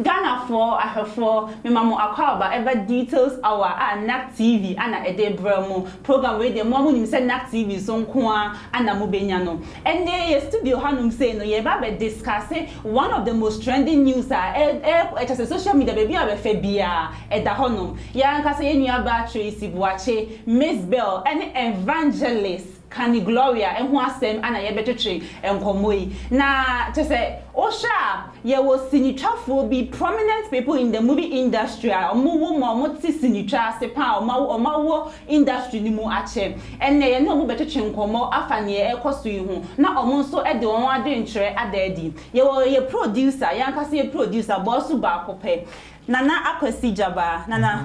Ghanafoɔ ahwɛfoɔ mema mo akwaaba ɛba details hour a NAK TV ana ɛde brɛ mo. Program wei deɛ moa monim sɛ NAK TV so nko ara ana mobɛnya no. Ɛnnɛ yɛ studio hanom sei no yɛreba abɛ discusse one of the most trending news a ɛ ɛ kyerɛ sɛ social media baabi a wobɛfa biara ɛda hɔnom. Yɛn ankasa yɛn nuabaa Tracy Boakye, Mizbel, ɛne Evangelist. ka ne Gloria ho asɛm na yɛbɛtwetwe nkɔmmɔ yi. Na kyerɛ sɛ wohwɛ a, yɛwɔ sinitwafoɔ bi, prominent people in the movie industry a wɔwo ma wɔte sinitwa ase pa ara a wɔawo industry no mu akyɛ. Ɛnnɛ yɛne wɔn bɛtwetwe nkɔmmɔ afa deɛ ɛrekɔ so yi ho na wɔn nso de wɔn adwenkyerɛ ada adi. Yɛwɔ yɛn producer, yɛn ankasa yɛn producer, Boasu Baakopɛ. Nana Akwasi Gyabaa, Nana,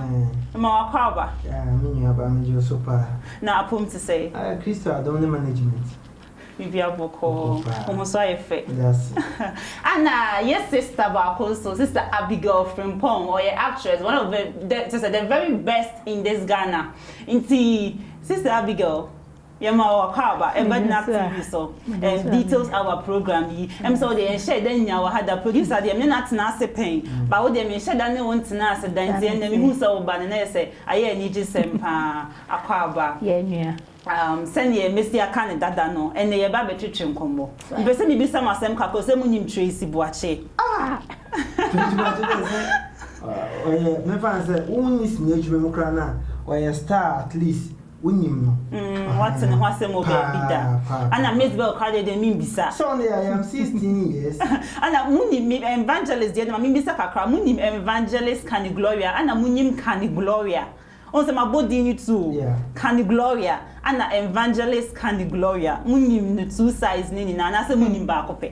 mema w'akɔ aba. Yaa, me nua baa, megye wo so paa. Na apɔw mu te sɛn? Aa, Kristo adom ne management. Biribiara bɔkɔɔ. Bɔkɔɔ paa. Wo ho nso ayɛ fɛ. Meda ase. Ɛna yɛ sister baako nso, Sister Abigail Frimpong, ɔyɛ actress, one of the, the, kyerɛ sɛ, the very best in this Ghana. Nti, Sister Abigail, Yɛma wo ɔkwaw ba, bɛgyina TV so ɛɛ details hour program yi. Ɛm sɛ wo deɛ yɛnhyɛɛ da nnya wo ha da. Producer deɛ me ne no atena ase pɛn, but wo deɛ menhyɛ da ne wo ntena ase da. Nti ɛnnɛ mehuu sɛ woba no na ayɛ sɛ ayɛ anigyesɛm pa ara, akwaw ba. Yɛn nua. Um, sɛdeɛ masi aka no dada no, ɛnnɛ yɛreba abɛtwetwe nkɔmmɔ. Mepɛ sɛ mibisa mo asɛm kakra o, sɛ munim Tracy Boakye? Ah! Tracy Boakye deɛ sɛ ɔyɛ, mɛfa no sɛ wonni sini adwuma mu koraa no a, ɔyɛ star at least Wonyim no. Mm, wɔatse no ho asɛm wɔ beebi da. Ana Mezebel koraa deɛ, deɛ memmisa. Sɛ ɔno yɛ, I am sixteen years. Ana munim me, Evangelist deɛ, ɛnde ma memmisa kakra, munim Evangelist Canny Gloria? Ana munyim Canny Gloria? Wohu sɛ mabɔ din no tu o. Yeah. Canny Gloria, ana Evangelist Canny Gloria, munyim no two sides no nyinaa, anaasɛ munyim baako pɛ?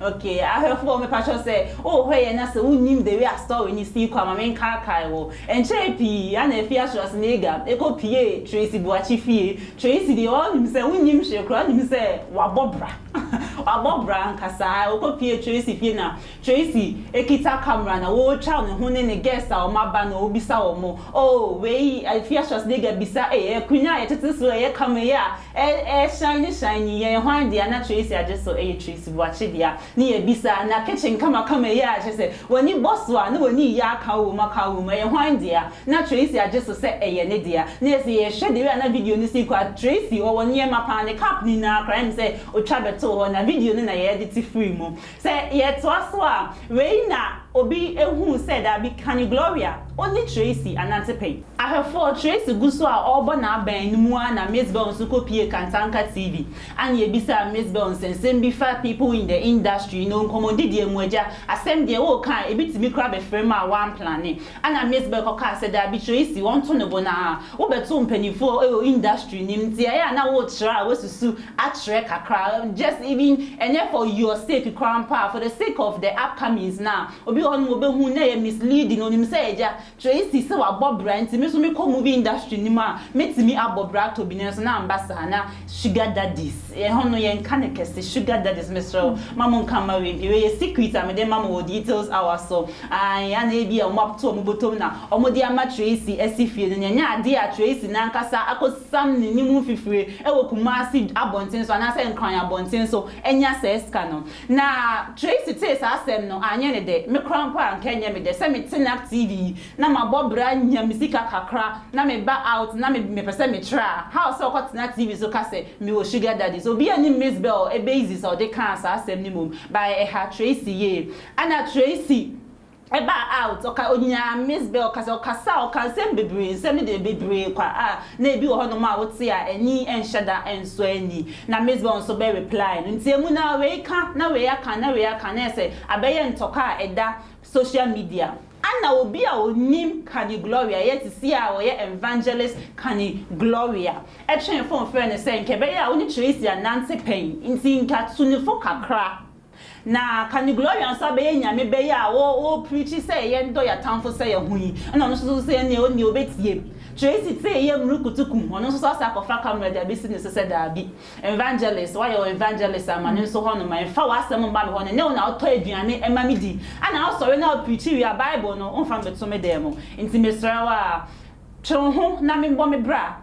Okay ahwɛfoɔ mepakyɛw sɛ wo hwɛ yɛ na sɛ wo nnim the way a story no sii kɔ a ma me nkaakae wo. Ɛnkyɛree pii a na afie Schwarzenegger kɔ piee Tracy Boakye fie. Tracy deɛ wo nim sɛ wo nnim hwee koraa wo nim sɛ wabɔ bra wabɔ bra ankasa haa ɔkɔ piee Tracy fie na Tracy kita camera na ɔretwa ne ho ne ne guest a wɔn aba na ɔrebisa wɔn oh wei afie Schwarzenegger bisa ei ɛyɛ akonwa a yɛtete so ɛyɛ camera yi a Ɛɛ ɛɛ shiny shiny yɛ yɛ hwan dea na Tracy agye so ɛyɛ Tracy Boakye dea ne yɛ bisa na kitchen kama kama yie a kyɛ sɛ wani bɔ so a na wani yɛ akaw wom akaw wom ɛyɛ hwan dea na Tracy agye so sɛ ɛyɛ ne dea na yɛ sɛ yɛ hwɛ the way a na video no si kɔ a Tracy ɔwɔ nneɛma paa ne cup no nyinaa koraa ɛm sɛ ɔtwa bɛtoo hɔ na video no na yɛ ɛde te firi mu sɛ yɛ toa so a wei na obi ɛhuu sɛ daabi Kani Gloria ɔne Tracy anante pɛn. Ahwɛfoɔ, Tracy gu so a ɔrebɔ n'abɛn no mu ara na Miss Bell nso kɔpuee Kantanka TV a na yɛbisaa Miss Bell nsɛnsɛm bi fa People in the Industry no nkɔmmɔdidiɛ mu, Agya, asɛm deɛ woka a ɛbɛtumi koraa bɛfiri me a woamplane. Ɛna Miss Bell kɔkaa sɛ, Daabi Tracy, wɔnto no bo no ara. Wobɛto mpanimfoɔ wɔ industry no mu nti ɛyɛ a na worekyerɛ a woasusu akyerɛ kakra, just even ɛnyɛ for your sake koraa mpo a, for the sake of the upcomings no a obi wɔ hɔnom a ɔbɛhu na ɛyɛ misleading, ɔnim sɛ Agya, Tracy sɛ wabɔ bra nti me nso mekɔ movie industry no mu a mɛtumi abɔ bra atɔ bi nanso na amba saa na sugar daddies ɛhɔ no yɛnka no kɛse sugar daddies mesrɛ wo ma mo nka mma wei mpii wei yɛ secret a mede ma mo wɔ details hour so ae ana ebia ɔmo atoto ɔmo bɔtɔm na ɔmo de ama Tracy asi fie no na ɛnyɛ adeɛ a Tracy no ankasa akɔ siam n'anim mfifire wɔ Kumasi abɔnten so anaasɛ Nkran abɔnten so anya saa sika no. Na Tracy tee saa asɛm no, anyɛ ne dɛ. Me koraa mpo a anka ɛnyɛ me dɛ sɛ mete Nap TV yi na mabɔ bra nya me sika kakra na meba out na mepɛ sɛ metra a, how sɛ ɔkɔtena TV so ka sɛ mewɔ sugar daddy. So obiara nnim Miss Bell Ebeiziz a ɔde kaa saa asɛm no mmom, but ɛha Tracy yie. Ɛna Tracy Ɛbaa a ot ɔka onyaa Miss Bell kasa, ɔkasaa, ɔkaa nsɛm bebree, nsɛm no deɛ bebree kwa a na ebi wɔ hɔnom a wote a ani nhyɛ da nsɔ ani. Na Miss Bell nso bɛ reply no nteamu no ara, wei ka na wei aka na wei aka na ayɛ sɛ abɛyɛ ntɔkwa a ɛda social media. Ana obi a onim Kani Gloria yɛ te seɛ a ɔyɛ Envangelist Kani Gloria ɛtwee fon frɛɛ no sɛ nka ɛbɛyɛ a wo ne Tracy anante pɛn nti nka tu ne fo kakra Na ka ne Gloria nso abɛyɛ nyame bɛ yi a wo wo preachi sɛ yɛn dɔ yɛ atamfo sɛ yɛ ho yi ɛna ɔno nso so sɛ ɛneɛ ɔneɛ ɔbɛtie Tracy tee yɛ mmurukutu kum ɔno nso so asɛ akɔfa camera de abɛsi ne so sɛ daabi Evangelist wayɛ wo Evangelist ama no nso hɔ nom ma ɛmfa w'asɛm mma me hɔ ɛnyɛ wo na wotɔ aduane ɛma me di ɛna wo sɔre na wo preachi wie a Bible no wo mfa me bɛto me dan mu nti mesrɛ wo a twe wo ho na me bɔ me bra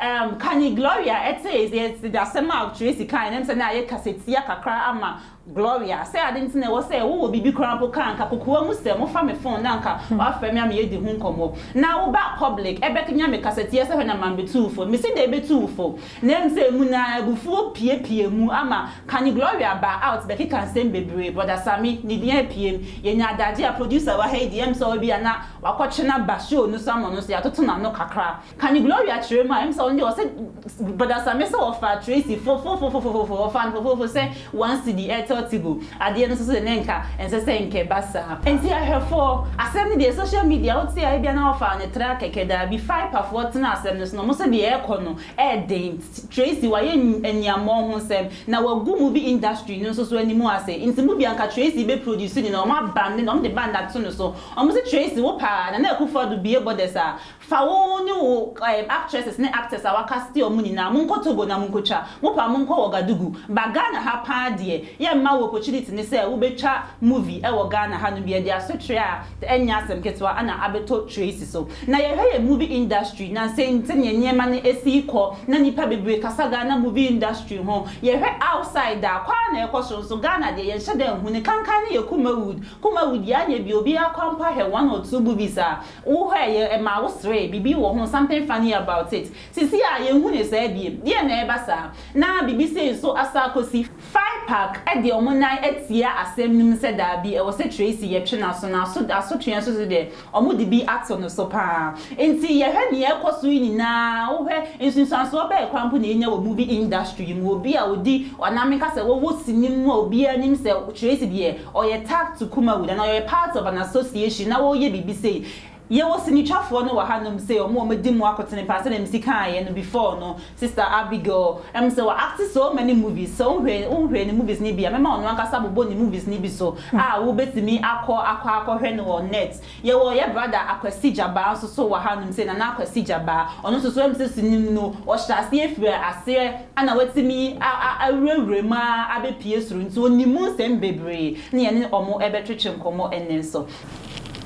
Erm ka nye Gloria tse dze dze asɛm a Tracy kae no nnsɛ na ayɛ kasatia kakra ama Gloria. Sɛ ade ntsi na ɛwɔ sɛ wowɔ biribi koraa mpo ka a, nka kokoa mu sɛ mofa me fon na nka wɔafrɛ me ama yɛadi ho nkɔmmɔ. Na woba public ɛbɛknya me kasatia sɛ hwɛ na mambetuw fo. Misi dɛn betuw fo? Na mmom sɛ emu no ara abufuo puepue mu ama ka nye Gloria baa out bɛkeka nsɛm bebree, Brɔda Sammy ne din apuem. Yɛnyaa adagye a producer wɔ ha yi deɛ ɛm sɛ ɔwɔ bi a na wakɔtwe no aba show no so ama ɔno nso yɛatoto n'ano kakra. Ka ne Gloria kyerɛ mu a ɛm sɛ ɔno deɛ ɔsɛ bɔdasame sɛ ɔfaa Tracy fofofofofofofo ɔfaa no fofofofo sɛ one cedi Airtel Tigo adeɛ no nso so deɛ na nka ɛnsɛ sɛ nka ɛba saa. Nti ahwɛfoɔ, asɛm no deɛ social media wote a ebia na wɔfaa no traa kɛkɛ daabi Fipa foɔ tena asɛm no so na ɔmo nso deɛ ɛɛkɔ no ɛɛden Tracy wayɛ aniammɔn ho nsɛm na wagu movie industry no nso so animu ase nti mo bia nka Tracy bɛ produce ne na ɔmo abande no ɔmo de band ato no so ɔmo se Tracy wo paa Nana Akufo Addo bue borders a Fa wo ne wo actresses ne actors a w'akasite ɔmo nyinaa monkɔ Togo na monkotwa mopa monkɔ Ouagadougou ba Ghana ha paa deɛ yɛ mma wo opportunity ne sɛ wobɛtwa movie ɛwɔ Ghana ha nom yɛde asotrɛ a ɛnyɛ asɛm ketewa ana abɛtɔ Tracy so na yɛhwɛ yɛn movie industry na sɛnea nneɛma no ɛsi kɔ na nnipa bebree kasa Ghana movie industry ho yɛhwɛ outside a kɔ ara na ɛkɔ so nso Ghana deɛ yɛnhyɛ da nhu no kankan no yɛ Kumawood Kumawood yɛ anyɛ bio obiara kɔ mpo ahwɛ one or two movies a Wohwɛɛ yɛ ma wo serɛɛ biribi wɔ ho, something funny about it. Sisi a yɛnhu no saa biom. Deɛn na ɛreba saa? Na biribi sei nso asa akosi. Fine Park de wɔn nan atia asɛm no mu sɛ daabi, ɛwɔ sɛ Tracy yɛtwe n'aso, na aso asotweɛ nso so deɛ, wɔde bi ato no so pa ara. Nti yɛhwɛ deɛ ɛrekɔ so yi nyinaa a, wohwɛ, nsunsuansoɔ bɛn koraa mpo na yɛnya wɔ movie industry yi mu? Obi a ɔdi, anaa menka sɛ ɔwɔ sini mu a obiara nim sɛ Tracy deɛ, Ɔyɛ tagged to Kumawood anaa ɔyɛ part of an association na wɔreyɛ biribi sei. Yɛwɔ sinitwafoɔ no wɔ ha nom sei, wɔn a wɔadi mu akotene paa sɛdeɛ mesi kaeɛ no before no, Sister Abigail, ɛm sɛ wa acte so many movies, sɛ wohwɛ, wohwɛ ne movies no bi a, mɛma ɔno ankasa abobɔ ne movies no bi so a wobɛtumi akɔ, akɔ akɔhwɛ no wɔ net. Yɛwɔ yɛ brada Akwasi Gyabaa nso so wɔ hanom sei, Nana Akwasi Gyabaa. Ɔno nso so MCC nim no, ɔhyɛɛ aseɛ firii aseɛ ɛna watumi awurawura mu ara abɛpue soro nti ɔnim mu nsɛm bebree na yɛne wɔn ɛbɛtwetwe nkɔmmɔ ɛnnɛ nso.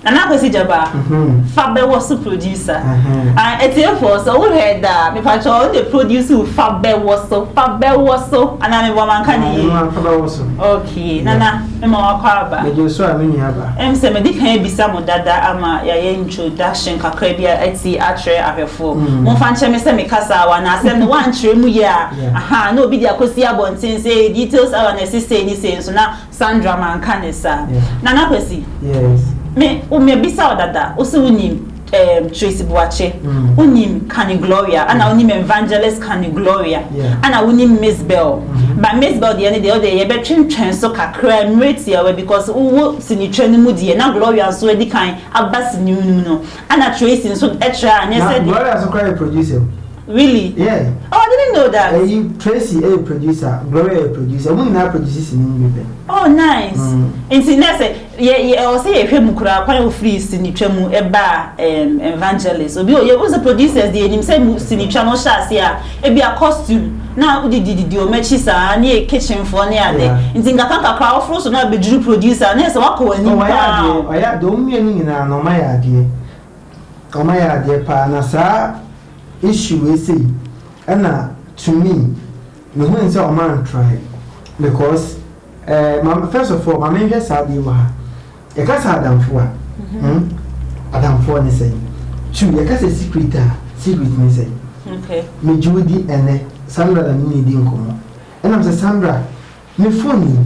Nana Akwasi Gyabaa, Fabɛwɔ so producer. Atiefoɔ sɛ wo hwɛ da a, mepakyɛ ɔno na ɛproduce wo Fabɛwɔ so, Fabɛwɔ so, anaa meboa manka no yie? Fabɛwɔ so. Okay, Nana. ma wakɔ aba. Megye so a me nua ba. Em sɛ medi kan abisa mo dada ama yɛayɛ introduction kakra bi a ati atrɛ ahwɛfoɔ. Momfa nkyerɛ me sɛ me kasa a w'anaa sɛ me w'ankyerɛ mu yie a ahaa na obi de akɔsi abɔnten sɛ ee details awa na ɛsi sei ne sei nso na Sandra manka ne saa. Nana Kwasi, me, wo, mabisa wo dada, wo se wonim. Ehm Tracy Boakye wonim Kani Gloria ana wonim Evangelist Kani Gloria ana wonim Miss Bell but Miss Bell deɛ ne deɛ wodeɛ yɛbɛtwentwɛn so kakra mmerɛ tiawa because wowɔ sinitwa no mu deɛ na Gloria nso adi kan aba sini mu no mu no ana Tracy nso tra a nyɛ sɛdeɛ. Na Gloria nso koraa yɛ producer o. Really? Yeah. Oh I didn't know that. Eyi Tracy ɛyɛ producer Gloria yɛ producer ɔmo nyinaa produce sini mu bi pɛ. Oh nice. Nti nɛ sɛ. Yɛ yɛ ɔwɔ sɛ yɛhwɛ mu koraa kwan a ofirii sinitwa mu baa ɛɛm evangelist. Obi o yɛ wohu sɛ producers deɛ yɛnim sɛ mu sinitwa no hyɛ aseɛ a ebi a costume na wodidi didi wɔn akyi saa ne kitchen foɔ ne ade Yeah. nti nkakra nkakra woforo so na abɛduru producer na yɛ sɛ wakɔ wɔn anim Oh, ɔyɛ paa adeɛ, o. ɔyɛ adeɛ, wɔn mmienu nyinaa no wɔayɛ adeɛ, wɔayɛ adeɛ paa, na saa issue wei sei ɛna to me, mehui sɛ wɔantrae because. Eh ma me first of all ma me nhwɛ saa adeɛ wɔ ha yɛ ka sɛ adamfo a hmm adamfoɔ ne sɛn two yɛ ka sɛ secret a secret ne sɛn okay me gye wo di ɛnɛ Sandra na me ne di nkɔmɔ ɛna me sɛ Sandra me phone yi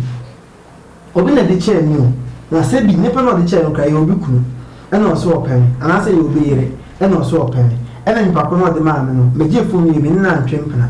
obi na de kyɛɛ me o na sɛ bi nipa na ɔde kyɛɛ no kora yɛ obi kunu ɛna ɔsɛ ɔpɛ me anaasɛ yɛ obi yere ɛna ɔsɛ ɔpɛ me ɛna nipa ko na ɔde maa me no me gye phone yi me ne no antwe mpena.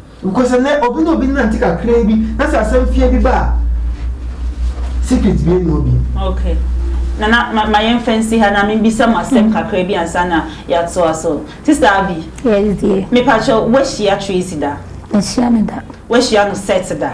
Because ɛnɛ obi ne obi nante kakraa bi na sɛ asɛm fie bi ba a secret bie ne obi. Okay. Nana ma, ma yɛn fɛn si ha na mi bisa mo asɛm mm. kakraa bi ansa na yɛato aso. Sista Abi. Yes dear. Mepakyɛ wahyia Tracy da. Ahyia ne da. Wahyia no set da.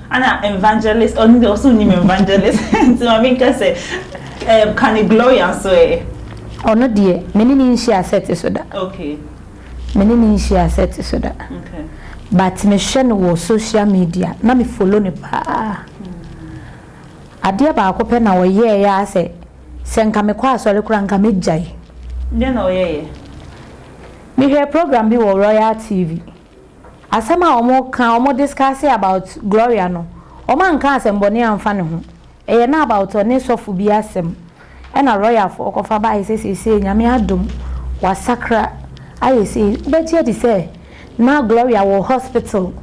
Ana evangelist ɔno deɛ ɔse onim evangelist nti ma me nka sɛ ɛɛm kane Gloria nso ɛɛ. Ɔno deɛ me ne no nhyia sɛte so da. Okay. Me ne no nhyia sɛte so da. Okay. But me hwɛ no wɔ social media na me follow no paa. Adeɛ baako pɛ na ɔyɛɛ aa sɛ sɛ nka me kɔ asɔre koraa nka me gyae. Deɛ na ɔyɛɛ yɛ? Me hwɛɛ program bi wɔ Royal TV. Asɛm a ɔmo ka ɔmo discuss about Gloria no ɔmo anka asɛmbɔne anfa ne ho ɛyɛ na about ɔne sɔfo bi asɛm ɛna lawyer foɔ kɔfa bae sɛ seisei Nyame adom wasakra ayɛ sei wobɛgye adi sɛ na Gloria wɔ hospital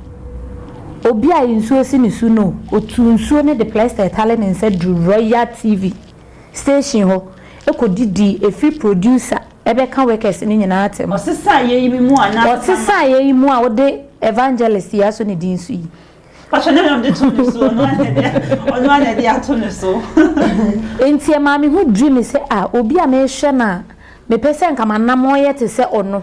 obi a nsuo si ne su no ɔtuu nsuo no de plɛster ɛtale ne nsa duru Royal TV station hɔ ɛkɔdidii ɛfiri producer Ɛbɛka workers no nyinaa atem. Ɔsesaeɛ yi mu a na. Ɔsesaeɛ yi mu a wode Evangelist yi aso ne din so yi. Mpakyɛ ɔno na mede to ne so ɔno ara na ɛde ɔno ara na ɛde ato ne so. Nti ɛmaa me ho dwiri me sɛ ah obi a mehwɛ no a mepɛ sɛ nka m'anammɔn yɛ te sɛ ɔno.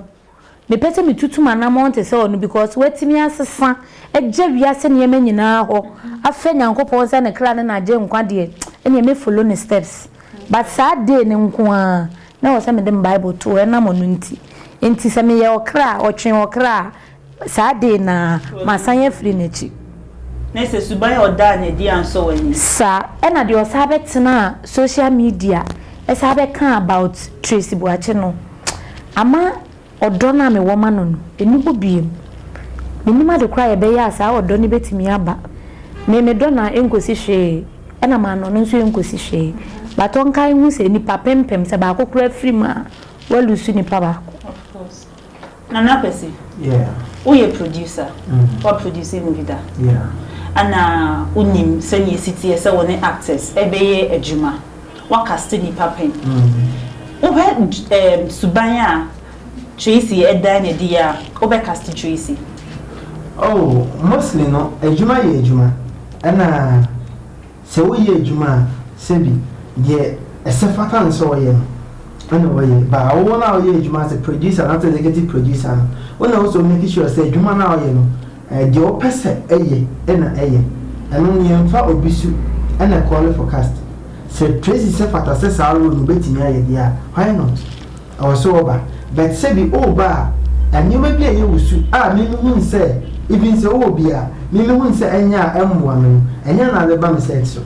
Mepɛ sɛ metutu m'anammɔn te sɛ ɔno because watumi asesa agya wiase nneɛma nyinaa hɔ afrɛ Nyankopɔn sɛ ne kra ne n'agyenkwa deɛ ɛneɛ mɛ follow ne steps but saa day no nko ara na ɛwɔ sɛ mede me bible to hɔ ɛnam ɔno nti enti sɛ meyɛ ɔkra a ɔtwe ɔkra a saa day no ara masan afiri n'akyi. Na sɛ suban a ɔdaa no adi ansɔ w'ani? Saa ɛna deɛ ɔsan bɛtenaa social media ɛsan bɛkaa about Tracy Boakye no. Ama ɔdɔ no a mewɔ ma no no, nni hɔ bio. Mennim ade koro a yɛbɛyɛ a saa ɔdɔ no bɛtumi aba. Me, medɔ no a, ɛnkɔsi hwee, ɛna mannɔ no nso ɛnkɔsi hwee. But ɔnkae nhu sɛ, nnipa pempem, sɛ baako koraa firi mu a, woalusu nipa baako. Of course. Nana Kwasi, woyɛ producer, woaproduce movie da? Ana wonim sɛdeɛ ɛsi teɛ sɛ wo ne actors bɛyɛ adwuma? Wɔakasete nnipa pɛn. Wohwɛ ɛɛm suban a Tracy dan no adi a, wobɛkasete Tracy? Oh, mostly no, adwuma yɛ adwuma, ɛna sɛ woyɛ adwuma a, sɛbi, deɛ ɛsɛ fata no sɛ ɔyɛ no, ɛna ɔyɛ. But wo no a woyɛ adwuma as a producer anaa as executive producer no, wo na wosɔ make sure sɛ adwuma no a ɔyɛ no, Deɛ wo pɛ sɛ ɛyɛ na ɛyɛ ɛno no yɛn fa obi su ɛna ɛkɔɔle forecast sɛ Tracy sɛ fata sɛ saa role no bɛtumi ayɛ deɛ a why not ɛwɔ sɛ ɔba but sɛ bi ɔreba a nneɛma bi a ɛyɛ wo su a me me hunu sɛ even sɛ ɔwɔ bi a me me hunu sɛ ɛnyɛ a ɛmmoa me no ɛnyɛ a na ade ba me set so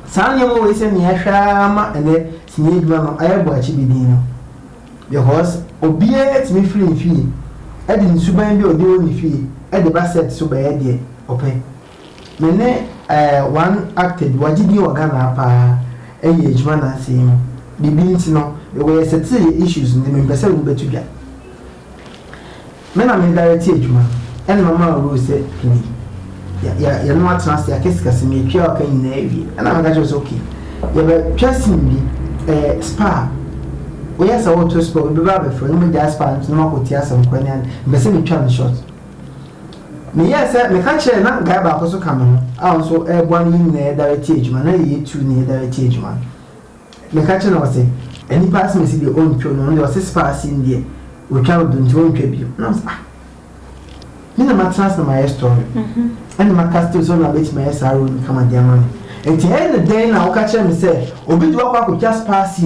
saa nneɛma wei sɛ nea ɛhwɛ ara ma ɛnɛ sini adwuma no ayɛ bɔ akyi bi din no. Because obiara tumi firi ne fie de ne suban bi a ɔde wɔ ne fie de ba set so bɛyɛ deɛ ɔpɛ. Me ne eh, one actor bi, wagye din wɔ Ghana ha paa yɛɛ adwuma nansa yi mu. Biribi nti no, mewɔ yɛ settle yɛ issues no nti mempɛ sɛ wobɛto dwa. Me na me direct adwuma ɛna ɔmaa rule sɛ Kenny yɛ yɛ no atena ase akasikasi me twa ɔka nyinaa awie ɛna meka kyerɛ sɛ ok yɛ bɛ twa scene bi ɛɛ spa woyɛ sɛ woto spa obi bɛba abɛfrɛ no mo gya spa no nti no makɔ ti asɛm kora ne ade mpɛ sɛ me twa no short me yɛ sɛ meka kyerɛ na guy baako so ka me ho a nso ɛɛboa no yɛ nyinaa yɛ direct adwuma na yɛ yɛ tu ne yɛ direct adwuma. Meka kyerɛ no ɔse nnipa asemasi deɛ ɔntwa mu ɔno deɛ ɔse spa ase no deɛ ɔtwa wo do nti ɔntwa bio na ɔse ah me na matena ase na mayɛ story ɛna maka still sɛ ɔno na bɛtumi ayɛ saa role no kama de ama me nti ɛna dɛn na woka kyerɛ me sɛ obi de wakɔ akɔtwa spa ase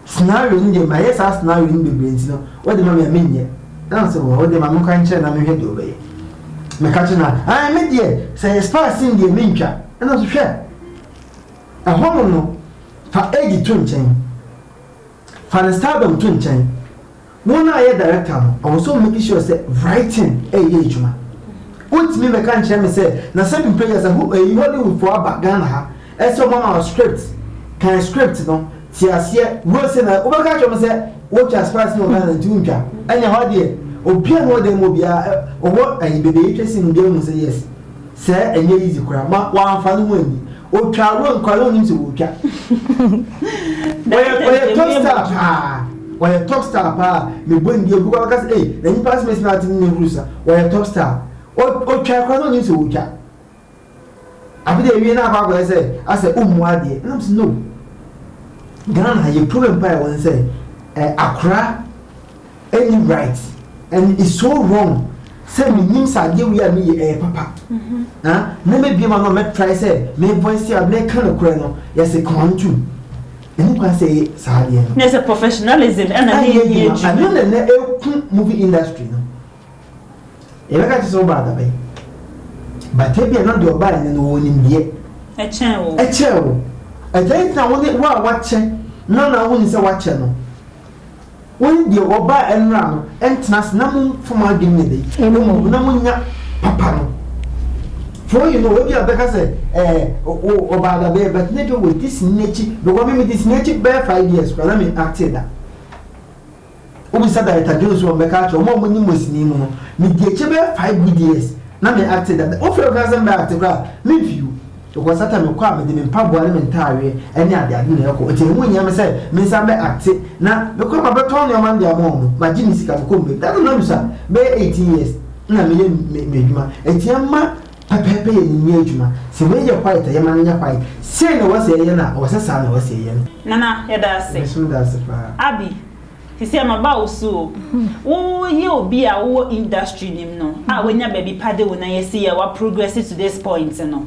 scenario no deɛ mayɛ saa scenario no bebree nti no wode ma me a menyɛ na ɔse wɔ wode ma me kwan kyerɛ na mehwɛ deɛ ɔbɛyɛ meka kyerɛ no a me deɛ sɛ yɛ spa ase deɛ mentwa ɛna ɔse hwɛ Ɛhɔnom no, fa Eddie to nkyɛn. Fa ne stardom to nkyɛn. Wo na yɛ director no, ɔwɔ sɛ ɔmake sure sɛ writing reyɛ adwuma. Wontumi mmɛka nkyerɛ me sɛ na seven pages a ho eyi Hollywood foɔ aba Ghana ha ɛsɛ wɔama wo script, kan script no, te aseɛ, wose na wobɛka akyerɛ me sɛ wotwa spice no wɔ Ghana nti wontwa. Ɛne ɛhɔ deɛ, obiara ne ɔdan mu obiara ɔwɔ ayi baabi a yɛtwa scene no obiara hu sɛ yes. Sɛ ɛnyɛ easy koraa ma w'anfa no ho anni otwa awura nkwa yɛ onim sɛ wotwa ɔyɛ ɔyɛ top star paa ɔyɛ top star paa mebɔ ndi obi kɔ kasa ee na nipa asome sima ati ne huru sa ɔyɛ top star otwa kora no onim sɛ wotwa afei de ewie na akɔ akɔyɛ sɛ asɛ ummu adeɛ ɛnam sɛ no Ghana yɛ problem paa ɛwɔ ne sɛ akora. ɛnni right and it's so wrong sɛ menim sɛ adeɛ wei a meyɛ ɛyɛ papa ah, na mɛbie ma no mɛtrae sɛ me voice out mɛka nokorɛ no yɛse kɔn ntom ɛne kwan sɛ ɛyɛ saa adeɛ no There's a professionalism ɛna ne yɛ yɛ adwuma ɛno na na ɛku movie industry no yɛbɛka te sɛ wo baa dabɛn bata bi a na deɛ ɔbaa ɛne no wɔ nimdeɛ ɛkyɛn wo ɛkyɛn wo ɛkyɛn ntina wo ne wo a wakyɛ na na wo ne sɛ wakyɛ no Wo ne deɛ wɔbaa ɛnora no ntena ase na mo mfa mo adwene nyɛ dɛ, mmom na mo nya papa no. For you know, ebi a bɛka sɛ, ɛɛ, o, o, ɔbaa da bɛɛ, but ne deɛ wɔdi sini n'akyi, because me me di sini akyi bɛɛ five years koraa na me actee da. Wo bisa Director Jones wɔn bɛka akyerɛ wɔn a wɔn nim wɔ sini mu no, me di akyi bɛɛ five good years na me actee da. Wo fɛ wo ka sɛ me bɛ acte koraa, me nfi o. Because that time me kɔ a mede me mpaboa ne me ntaareɛ ne ade ade na ɛkɔ nti ɛho nhia me sɛ me nsa bɛ acte na me kɔ a ma bɛ tɔn nnoɔma no de ama wɔn ma gye me sika me kɔ mbɛm that time na me sua bɛyɛ eighteen years na me yɛ me me adwuma nti ɛma pɛpɛɛpɛ yɛ ne nyɛ adwuma sɛ wei yɛ quiet a yɛ ma no nyɛ quiet sei na ɛwɔ sɛ yɛ yɛ no a ɛwɔ sɛ saa na ɛwɔ sɛ yɛ yɛ no. Nana yɛda ase. Mesomda ase paa. Abby. Te sɛ mmabaa osu o. Wo yɛ obi a wo wɔ industry no mu no a w'anya baabi pa de wo nan asi yɛ wa progress to this point no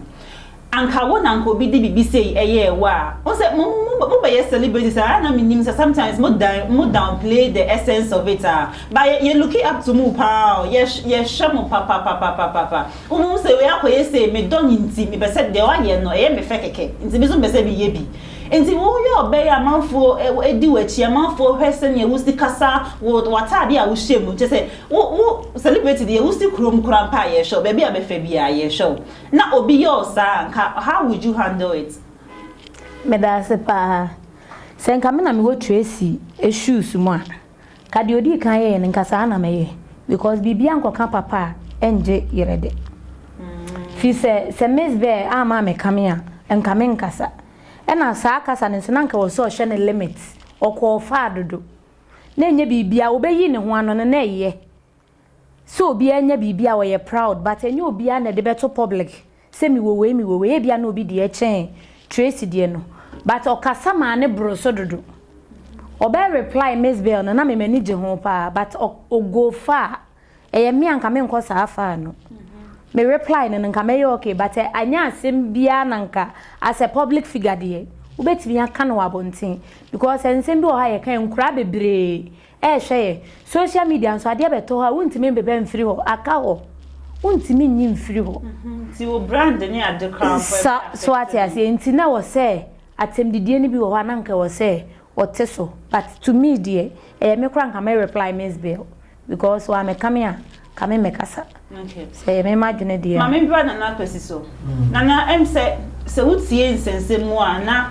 anka wo na anka obi de biribi sei ɛyɛɛ wo a wohu sɛ mo mo mo bɛyɛ celebrities a na menim sɛ sometimes mo dan mo down play the essence of it a but yɛ yɛ looki up to mo paa o yɛ yɛ hwɛ mo papapapapapa wo mo hu sɛ wei akɔyɛ sei me dɔ no nti me pɛ sɛ deɛ wayɛ no ɛyɛ me fɛ kɛkɛ nti me nso me pɛ sɛ me yɛ bi Enti woyɛ ɔbɛyɛ a amanfoɔ di w'akyi, amanfoɔ hwɛ sɛdeɛ wosi kasa, wo w'ataadeɛ a wohyɛ mu, kyerɛ sɛ wo wo celebrity deɛ wosi kurom koraa mpo a yɛhwɛ wo, baabi a bɛfa biara yɛhwɛ wo. Na obi yɛ wo saa a nka how would you handle it? Meda ase paa. Sɛ nka me na mewɔ Tracy shoes mu a. Ka deɛ ɔdii kan yɛeɛ no nka saa na mɛyɛ because biribiara nkɔka papa a ɛngye yerɛ de firi sɛ sɛ Miss Bear amma ammɛkame a nka menkasa ɛna saa kasa no nso na nka ɔsɛ ɔhyɛ no limit ɔkɔɔ faa dodo na ɛnyɛ biribiara ɔbɛyii ne ho ano no na ɛyɛ sɛ obiara nya biribi a ɔyɛ proud but ɛnyɛ obiara na ɛde bɛto public sɛ mewɔ wei mewɔ wei ebia na obi deɛ kyɛn Tracy deɛ no but ɔkasa maa ne boro so dodo ɔbɛ reply Miss Bell no na me m'ani gye ho paa but ɔ ɔ go far ɛyɛ me a nka menkɔ saa far no me reply no no nka mɛyɛ okay but ɛ anyɛ asɛm biara na nka as a public figure deɛ wobɛtumi aka no wɔ abɔnten because nsɛm bi wɔ hɔ a yɛka a ɛnkuraa bebree. Eh hwɛ yɛ social media nso adeɛ bɛtɔ hɔ a wontumi mbeba mfiri hɔ aka hɔ wontumi nyi mfiri hɔ Nti wo brand ne ade koraa mpo sa ɛbɛ so affect ate wo. aseɛ nti na ɛwɔ sɛ atɛmdidie no bi wɔ hɔ a na nka ɛwɔ sɛ ɔte so but to me deɛ ɛyɛ me koraa nka mɛ reply Miss Bill because wamɛka me a Ka me mɛkasa. Sɛ ɛyɛ me m'adwene deɛ a. Ma membra Nana Akwasi so. Nana, ɛm sɛ sɛ wotie nsɛnsɛm mu a na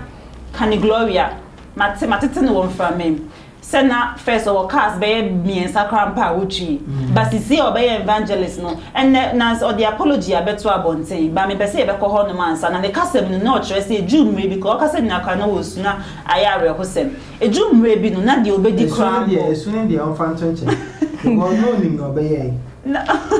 Kani Gloria, mate, matete no wɔ Mframam, sɛ na first ɔwɔ cars bɛyɛ mmiɛnsa koraa mpo a wotwi. But seesei a ɔbɛyɛ evangelist no, ɛnnɛ na ɔde apology abɛto abɔnten. But mepɛ sɛ yɛbɛkɔ hɔnom ansa. Na ne kasa mu no, na ɔkyerɛ sɛ Jew mmere bi koraa, ɔkasa nyinaa koraa na wɔresu, na ayɛ awerɛhosɛm. Eduru mmerɛ bi no, na deɛ ɔbɛdi koraa mpo. Esu no deɛ, esu no deɛ ɔmfa nto nkyɛn, because na ɔnim deɛ ɔbɛyɛe.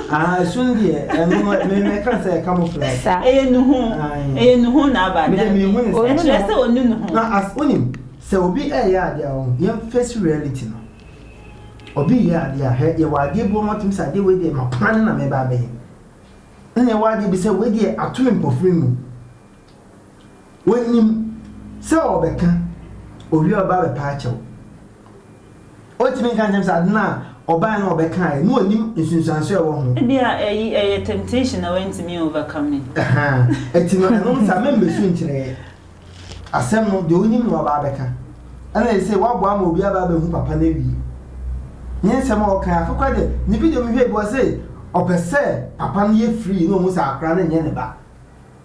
Ahaa, esu no deɛ, ɛno no, me, mɛka no sɛ ɛka mo firi ase. Sa. Ɛyɛ nuhu, Ae. ɛyɛ nuhu na aba, Me deɛ, dabi. menhunu saa. Ɔnnu ne Ɛkyerɛ ho. sɛ ɔnnu ne ho. Na as, wonim, sɛ obi reyɛ adeɛ a, ɔho, yɛn face reality no, obi reyɛ adeɛ a, hɛ, yɛwɔ adeɛ bi wɔ hɔ a, wotumi sɛ adeɛ wei deɛ, mapoma no na mɛba abɛyɛ. Nna ɛwɔ adeɛ bi sɛ, wei deɛ, ato me mpofiri mu. Onyim sɛ ɔbɛkã, owie a ɔba abɛpa akyɛw. Onntumi nnka nkyerɛ me sɛ adze no a ɔbae no a ɔbɛkã ayɛ, na onyim nsunsuanso a ɔwɔ ho. Bi a iyi yɛ temptation na oenntumi overcome yi. Ahaa, ntsi no ɛno no sɛ amembesu nnkyerɛ yɛ. Asɛm no, deɛ onyim na ɔba abɛkã. Ana yɛ sei, wɔaboa ma obi aba abehu papa no ewie. Nye nsɛm a ɔkã yi, afekor dɛ, ne video mehwɛe bi, ɔse ɔpɛ sɛ papa no yɛ free na ohu sɛ akora no nnyɛ ne ba.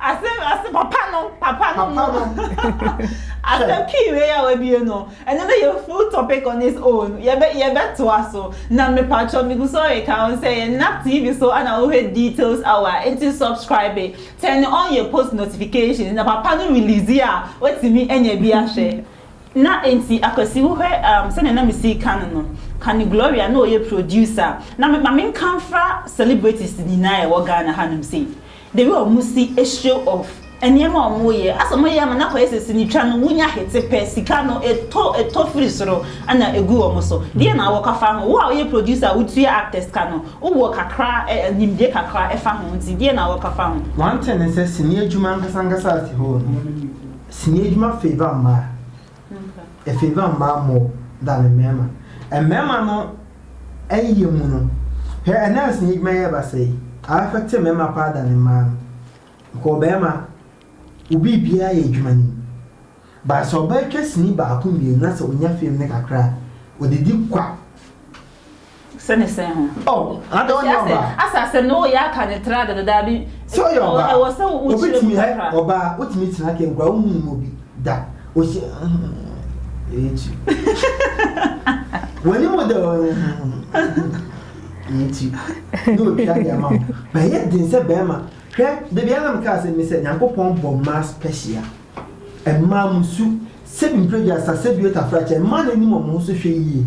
ase ase papa no papa no no ase kii wei a wabie no ɛno no yɛ full topic on its own yɛbɛ yɛbɛtoa so na mepatwɔ megu so reka ho sɛ yɛ nap tv so ana wohwɛ details hour nti subscribe turn on yɛ post notifications na papa no release a watumi anya bi ahwɛ na nti akwasi wohwɛ um, sɛnea na mesi ka no no ka ne gloria na ɔyɛ producer na ma menkamfra celebrities nyinaa ɛwɔ ghana hanom sei The way ɔmo si show off nneɛma a ɔmo yɛ, asɛ ɔmo yɛ ama no akɔyɛ sɛ sini twa no, wonya hete pɛ, sika no ɛtɔ ɛtɔ firi soro na egu ɔmo so. Deɛn na wɔ ka fa ho? Wo a woyɛ producer a wotua actors ka no, wo wɔ kakra ɛ ɛ nimdeɛ kakra ɛfa ho nti deɛn na wɔ ka fa ho? One thing ne sɛ sini adwuma ankasa ankasa as a whole no, sini adwuma favour mmaa. Efeeva mmaa mmɔ da ne mmarima. Mmarima no yɛ mu no, hwɛ ɛnɛ nsi n'edwuma yɛ basa yi, aɛfɛ te mmarima paa da ne mmaa no. Bkɔ ɔbarima, wo biribiara yɛ edwuma no mu. Ba sɛ ɔbaa twa sini baako mmienu na sɛ onya fame no kakra a, odidi kwa. Sɛ ne sɛn ho. Oh, ada wo nyɛ ɔbaa. Asase no yɛ aka ne tra dodo daabi. Sɛ ɔyɛ ɔbaa. Ɛwɔ sɛ wo wo kyerɛ mu kakra. Ɔbaa wo tumi tena kɛn kura wo mu mu bi da. Osi. Ɛyɛ ti. Wani mu da wɔ. Ɛyɛ ti. Ne otwa de ama wo. Bɛyɛ den sɛ bɛrima. Hwɛ, dabi ara nam kaa sɛ mi sɛ Nyankopɔn bɔ mmaa special. Mmaa mo su, sɛ bi mpredwa sa, sɛ bi otafra kyɛ, mmaa na anim wɔn ho so hwɛ yie.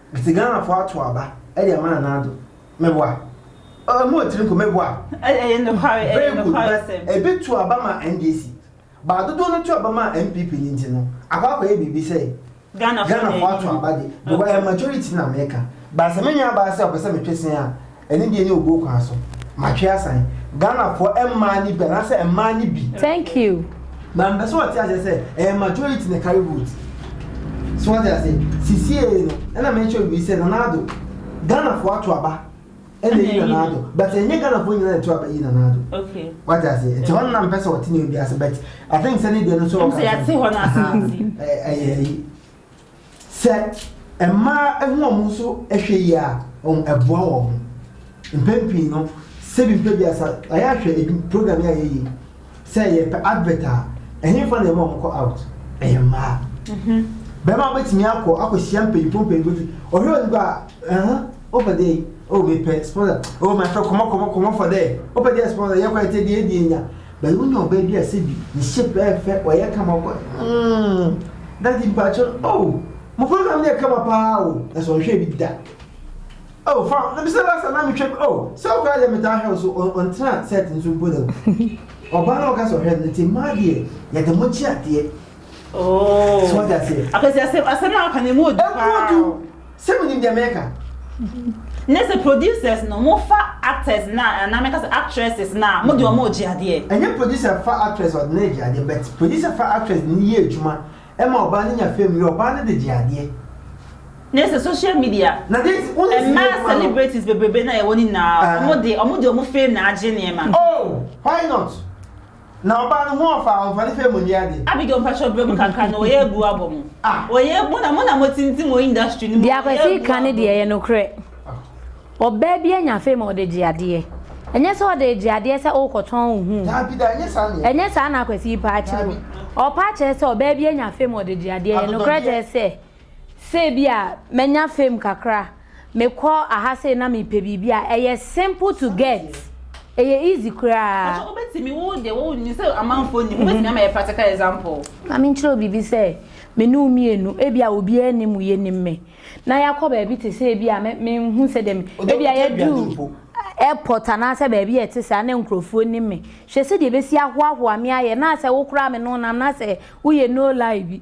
Metse Ghana fo ato aba de ama Nana Addo. Meboa? Oh, mowɔ tsir mpo, meboa? Ɛyɛ nokware, ɛyɛ Very good, nokware but sɛm. ebi to aba ma NDC, but dodow no to aba ma NPP no ntsi no, akɔ akɔyɛ biribi sɛ Ghana fo Ghana fo ato aba de, because ɛyɛ majority na meka. But sɛ me nua baa sɛ ɔpɛ sɛ metwe se a, Ɛno deɛ ne obuo kwan so. Matwe asan. Ghana foɔ mmaa no bi anaa sɛ mmaa no bi. Thank you. Na mpɛ sɛ ɔte aseɛ sɛ ɛyɛ majority na carry vote. So ɔte aseɛ. Sisiee no ɛna mɛ kyerɛ obi sɛ Nana Addo Ghana foɔ ato aba ɛna yi Nana Addo but ɛnyɛ Ghana foɔ nyinaa na ɛto aba yi Nana Addo. Okay. Ɔte aseɛ. Nti hɔ no na mpɛ sɛ ɔte ne obi ase but I think sɛ ne deɛ no so ɔka. Nti yɛte hɔ no ase nti. Ɛyɛ yi. Sɛ mmaa hu wɔn ho so hwɛ yie a, ɛboa wɔn ho. Mpɛn pii no, sɛbi mpɛ bi asa, ayɛ ahwɛ edu program yi a yɛyi sɛ yɛpɛ advert a, ɛhefa na ɛma wɔn kɔ out? Ɛyɛ mmaa. Mhm. Bɛrima bɛtumi akɔ akɔhyia mpanyinfoɔ mpanyinfoɔ ti, ɔhwɛ wɔn kɔ a, ɛhɛn, ɔpɛ dɛ, oh mepɛ sponsor, oh mepɛ kɔmɔ kɔmɔ kɔmɔ fɔ dɛ, ɔpɛ dɛ sponsor, yɛkɔ ɛtɛ deɛ ɛdi enya. But wo nya ɔbaa bi a sɛ bi ne shape ɛyɛ fɛ ɔyɛ kama ɔkɔ mm daddy mpakyɛ oh mo program no yɛ kama paa o na sɛ ɔnhwɛ bi da oh fa na bi sɛ last time na me twɛ oh sɛ ɔkɔ ayɛ me taa hwɛ so ɔntena set nso mpo da ɔbaa na ɔka sɛ ɔhwɛ no nti mmaa deɛ yɛde mo kye adeɛ oh so ɔde aseɛ apɛsɛ asɛm asɛm a ɔka ne mu odu paa Sɛ mo nim deɛ mɛka. Ne sɛ producers no mo fa actors na anaa mɛka sɛ actresses na mo de ɔmo gye adeɛ. Ɛnyɛ producer fa actress ɔde no gye adeɛ but producer fa actress de no yɛ adwuma ɛma ɔbaa no nya fame yɛ ɔbaa no de gye adeɛ. Ne sɛ social media ɛmaa celebrities bebrebe na yɛwɔ no nyinaa ɔmo de ɔmo de ɔmo fame na agye nneɛma. Oh why not Na ɔbaa no ho ɔfaa ɔmfa ne fɛ mu nni ade. Abigail mpakyɛw brɛ mu kakra na wɔyɛ agu abɔ mo wɔyɛ mo na mo na mo tintim wɔ industry no mu deɛ kwasi ka no deɛ ɛyɛ nokorɛ ɔbaa bi anya fame ɔde gye adeɛ ɛnyɛ sɛ ɔde gye adeɛ sɛ wokɔtɔn wo ho ɛnyɛ saa na kwasi paa kyerɛ o ɔpaa kyerɛ sɛ ɔbaa bi anya fame ɔde gye adeɛ ɛyɛ nokorɛ kyerɛ sɛ sɛ ebia manya fame kakra, mekɔ aha sei na mepɛ biribi a, ɛyɛ simple to get. Ɛyɛ easy koraa. Pacho, wobɛtumi, wo deɛ wo nim sɛ amanfoɔ nim, wobɛtumi ama yɛ practical example? Ma menkyerɛ wo biribi sɛ, me ne wo mmienu, ebia obiara nnim wo, yɛnim me, na yɛakɔ baabi te sɛ ebia me, menhu sɛdeɛ me, Wode ebia wotwa yɛadu wiase mpo. airport anaasɛ baabi a ɛte saa na nkurɔfoɔ nim me. Hwɛ sɛdeɛ ɛbɛsi ahoahoa me ayɛ, na asɛ wo koraa me ne wo nam, na asɛ woyɛ no-lie bi.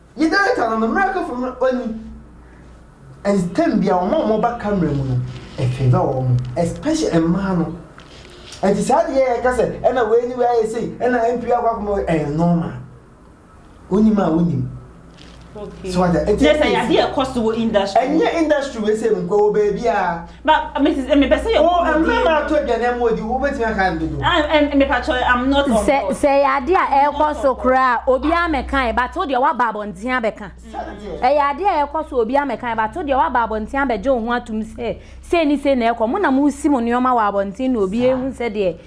Nye director no no mbrɛ kafo no ɔnyi and term bia wɔn a wɔn ba camera mu no ɛfavour wɔn especially mmaa no ɛnti saa deɛ yɛ ka sɛ ɛna wei ne wei ayɛ sei ɛna MP akɔ akɔma wei ɛyɛ normal wonim a wonim okay so wata ɛnti ɛsɛ yadeɛ ɛkɔ so wɔ industry ɛnyɛ industry wei sɛ mu nkɔ wɔ baabi a Ba Mrs. Emi pɛ sɛ yɛ kɔ mu die. O mmarima ato aduane ama odi wo bɛtumi aka no dodo. Ah Emi patro I'm not on board. Sɛ sɛ yɛ adeɛ a ɛkɔ so koraa obi a mɛkae but wo deɛ waba abɔnten abɛka. Ɛyɛ adeɛ a ɛkɔ so obi a mɛkae but wo deɛ waba abɔnten abɛgye wo ho atom sɛ sei ne sei na ɛkɔ mo na mo si mo nneɛma wɔ abɔnten na obi ehu sɛdeɛ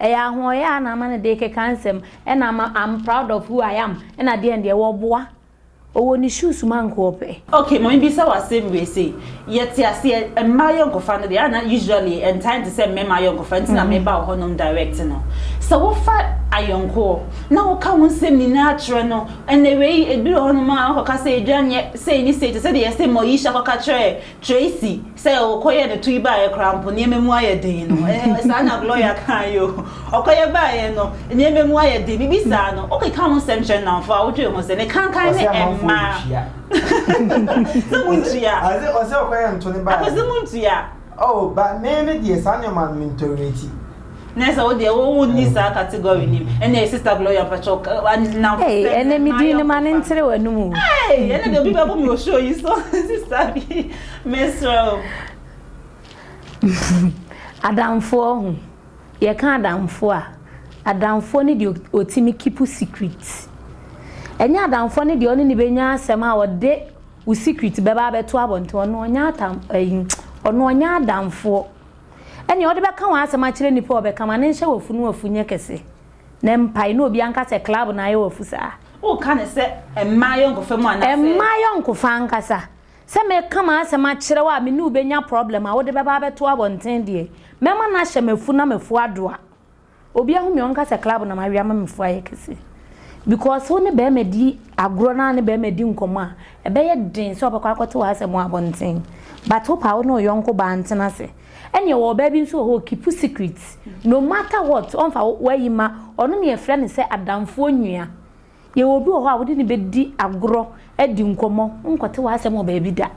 Ɛyɛ ahoɔyaa a na ama no de keka nsɛm ɛna ama am proud of who I am ɛna deɛn deɛ wɔboa ɔwɔ ne shoes mu anko ɔpɛ. Ok ma me bisa wo asem wei sei yɛ te aseɛ mmaa ayɔnkofa no deɛ a na usually ɛntaa nte sɛ mmarima ayɔnkofa nti na me ba wo hɔ nom direct no sɛ wo fa ayɔnkoɔ na wo ka wo nsem nyinaa kyerɛ no ɛnɛ wei ebi wɔ hɔ nom a ɔkɔ ka sɛ edwa nyɛ sei ne sei te sɛ deɛ yɛ se Moesha kɔ ka kyerɛ Tracy, sɛ ɔkɔyɛ ne to yi baeɛ koraa mpo nneɛma mu ayɛ den no. Ɛɛ, saa na Gloria kaa yi o. Ɔkɔyɛ baeɛ no, nneɛma mu ayɛ den. Bibi saa no, wokeka ho nsɛm kyerɛ nnamfo a, wodwene ho sɛ ne kankan ne mmaa. Sɛ montua. Ɔse ɔse ɔkɔyɛ nto ne baeɛ. Akɔse montua. Oh, but me me deɛ saa nneɛma no mentɔrɛti. Nɛ sɛ wodeɛ wo wo nni saa category nim ɛneɛ sister Gloria mpakyɛw ka nam Hey sɛm ɛnɛ me din no ma ne ntere w'anum o. Hey ɛnɛ deɛ obi bɛbo me wɔ show yi so sister bi mesrɛ wo. Adamfoɔ ho yɛka adamfoɔ a adamfoɔ ne deɛ ɔtumi keep secret ɛnyɛ adamfoɔ ne deɛ ɔne ne bɛnya asɛm a ɔde wo secret bɛba abɛto abɔnten ɔno ɔnyɛ atam ɛyi ɔno ɔnyɛ adamfoɔ. Ɛnneɛ wode bɛka w'asɛm akyerɛ nnipa a wɔbɛka ma no nhyɛ w'afu no afu nyɛ kɛse na ɛmpae na obiara nka sɛ club na ayɛ w'afu saa. Woka no sɛ mmaa yɔnkofa mu anaasɛ. Mmaa yɔnkofa ankasa. Sɛ meka m'asɛm akyerɛ wo a me ne wo bɛnya problem a wode bɛba abɛto abɔnten deɛ, mɛma no ahyɛ m'afu na m'afu adoa. Obi ahu me ɔnka sɛ club na ma wia ma me fo ayɛ kɛse because wo ne bɛrima di agorɔ na ne bɛrima di nkɔmɔ a ɛbɛyɛ den sɛ ɔbɛkɔ akɔte wɔ asɛm wɔ abɔnten but wo pa wo ne ɔyɔnko baa ntena ase ɛne ɛwɔ ɔbaa bi nso wɔ hɔ kipu secret no matter what ɔnfa wayi ma ɔno ne ɛfrɛ ne sɛ adamfoɔ nua Yɛwɔ obi wɔ hɔ a wode no bɛdi agorɔ, adi nkɔmmɔ, wonkɔte w'asɛm wɔ baabi da.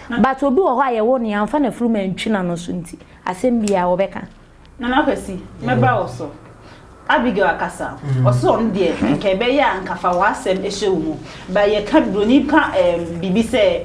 But obi wɔ hɔ a yɛwɔ no yɛamfa n'afurum antwi n'ano so nti, asɛm biara ɔbɛka. Nana Kwasi, mɛba wo so. Abigail akasa, ɔse ɔno deɛ nka ɛbɛyɛ a nka fa w'asɛm hyɛ wo mu, but yɛka buroni ka ɛɛm biribi sɛ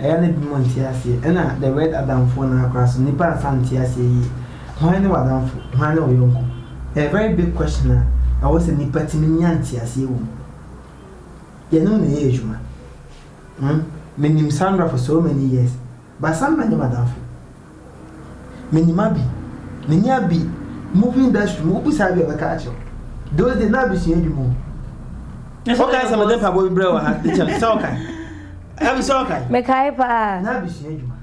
Ɛyɛ a na binom nte aseɛ. Ɛna the word adamfoɔ no ara koraa so nnipa ansa nte aseɛ yie. Hwan ne w'adamfo? Hwan ne wo yɔnko? Ɛyɛ very big question a ɛwɔ sɛ nnipa tumi nya nteaseɛ wɔ mu. Yɛne wo na ɛyɛ adwuma. Hmmm, menim Sandra for so many years but Sandra nyɛ m'adamfo. Minyim abi, menye abi, movie industry mu, wobisa abi a ɔbɛka akyerɛ wo. Those days na abi sua edwuma o. Ɔka sɛ mede mpaboa bi brɛ wɔ ha, kyɛ sɛ ɔka. Abi sɛ ɔka. Mekae paa. Na abi sua edwuma.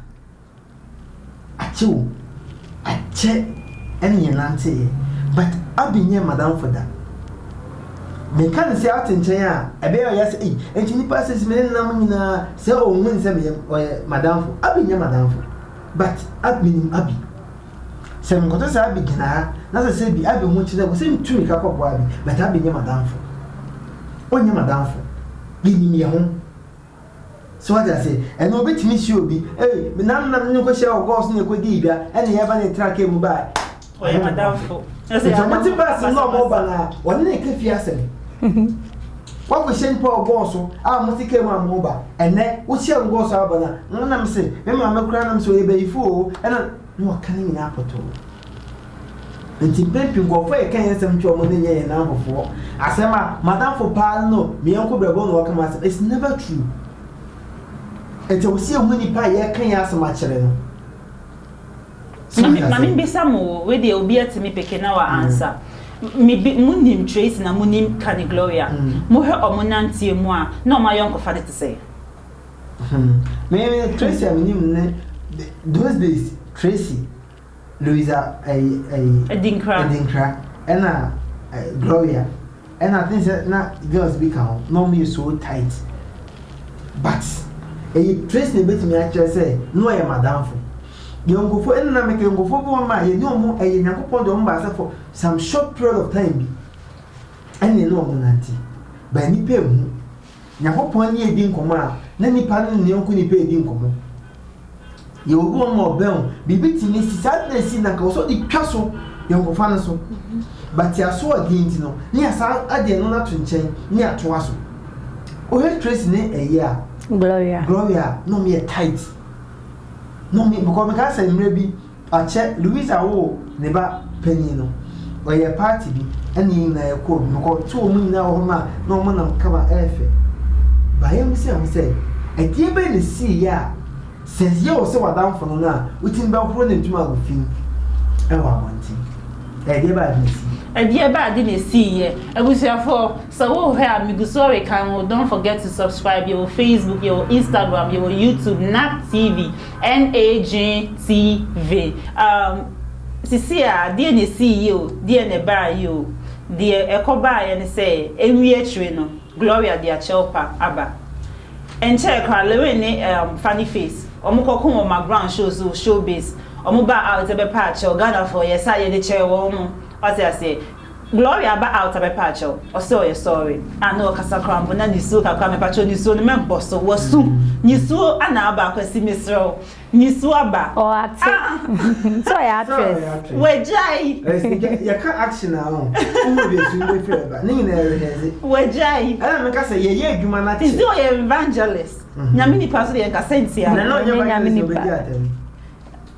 Akyɛ o, akyɛ ɛne yɛn nanteeɛ but abi nyɛ madamfo da. Meka no sɛ ɔte nkyɛn a, ɛbɛyɛ a ɔyɛ sɛ, Ei, enti nnipa a sɛsi me ne nam nyinaa, sɛ ɔnhu no sɛ meyɛ, ɔyɛ m'adamfo. Abby nyɛ m'adamfo, but Ab, menim Abby. Sɛ menkɔtɔ sɛ Abby gyina ha, na sɛ sɛ bi Abby ho kyerɛ me sɛ metu mmirika kɔboa Abby, but Abby nyɛ m'adamfo. Ɔnyɛ m'adamfo. Yɛnim yɛn ho. So wate ase? Ɛnna obetumi si obi, Ei, me nanom na me ne no kɔhyiaa wɔ Gulf so na yɛkɔdii dwa, ɛnna yɛreba na yɛtenaa kaa mu bae. Ɔyɛ m'adamfo. Enti sɛ wɔte bus mu na wɔreba no a, wɔne no reka fie asɛm. Woakɔhyɛn pa wɔ Gulf so a mote kaa mu a moreba. Ɛnnɛ, wohyia no Gulf so a woreba no a, na me se, me maame koraa na me se ɔyɛ bayifo oo, ɛnna na waka ne nyinaa pɔtɔɔ. Ntsi mpɛn pii nkorɔfo a yɛkã hɛn nsɛm kyerɛ hɔn no nnyɛ hɛn ankofoɔ. Asɛm a, M'adamfo paa no no me yɛnko brɛbo na ɔkã m'asɛm, it's never true. Ntsi ɔwɔ sɛ yehu nyimpa a yɛrekã hɛn asɛm akyerɛ no. So Ma ate me ma ase? mimbisa mo o, wei deɛ obi atse me peke na ɔaansa. Me bi munim Tracy na munim Kani Gloria. Mohwɛ ɔmo nanteɛ mu a, na ɔmo ayɔnkofa no te sɛn? Hmm, me Tracy a minyim no ne those days Tracy. Louisa ɛyi ɛyi. Adinkra. Adinkra ɛna ɛ Gloria ɛna ten sɛ na girls bi ka ho na wɔn yɛ so tight but ɛyɛ trace na ebetumi akyerɛ sɛ na wɔyɛ madamfo yɔnkofo ɛna na mɛka yɔnkofo bi wɔn ma yɛ ne wɔn ɛyɛ nyankopɔn de wɔn ba asɛ for some short period of time bi ɛna ɛna wɔn nante but nipa ehu. Nyankopɔn ne edi nkɔmmɔ a, na nipa ne ne yɔnko nipa edi nkɔmmɔ. Yɛwɔ bi wɔn ma ɔbɛn o, biribi ti ne si, saa ade na esi na nka ɔsɔ de twa so yɔnkofa no so. But yɛaso ɔden nti no, ne yɛasan ade ɛno no ato nkyɛn ne yɛatoa so. Wohwɛ Tracy ne ɛyɛ a, Gloria, Gloria a, na wɔn yɛ tight. Na wɔn, because mekaa sɛ mmerɛ bi, Akyɛ Luisa woo ne ba panyin no, ɔyɛɛ party bi ɛna yɛn nyinaa yɛ kɔɔ mu. Me kɔ too ɔmo nyinaa wɔ hɔ maa na ɔmo nam kaba ɛɛfɛ. Ba yɛn bisaa ɔmo sɛ, ɛdeɛ bɛn na esii yɛ a, sɛ yɛ wo sɛ w'adamfo no no a, wotumi bɛ horo ne ntoma agu fi mu ɛwɔ abɔnten? Ɛdeɛ bɛn ade na esii? Ɛdeɛ bɛn ade na esii yɛ? Abusuafoɔ, sɛ wo hwɛ a, me gu so rekan wo, don't forget to subscribe, yɛ wɔ Facebook, yɛ wɔ Instagram, yɛ wɔ YouTube, NAC TV. NAJTV, Um, sisii a, deɛ na ɛsii yi o, deɛ na ɛbaa yi o, deɛ ɛkɔbaeɛ ne sɛ, ɛnwie akyire no, Gloria de akyɛwpa aba. Ɛnkyɛɛ koraa, Lewin ne, um, Funny Face, wɔkɔko wɔ McGround show so, Showbiz, wɔbaa out bɛpɛ akyɛw, Ghanafoɔ, yɛsa a yɛde kyɛɛ wɔn, wate aseɛ? Gloria ba altar mɛpaakyɛw ɔsɛ ɔyɛ sɔre a na ɔkasa koraa mpo na nisuo kakra mɛpaakyɛw nisuo no mɛbɔ so wɔ su nisuo ana aba akwasi mesrɛ wo nisuo aba aah sɛ ɔyɛ actress wagyae yɛka action a ɔho wohu deɛ su no bɛfiri aba ne nyinaa reheɛse wagyae ɛna meka sɛ yɛyɛ adwuma no akyɛ nti ɔyɛ evangelist nyame nipa so deɛ nka sɛntia na na ɔnyɛ evangelist ɔbɛdi atɛm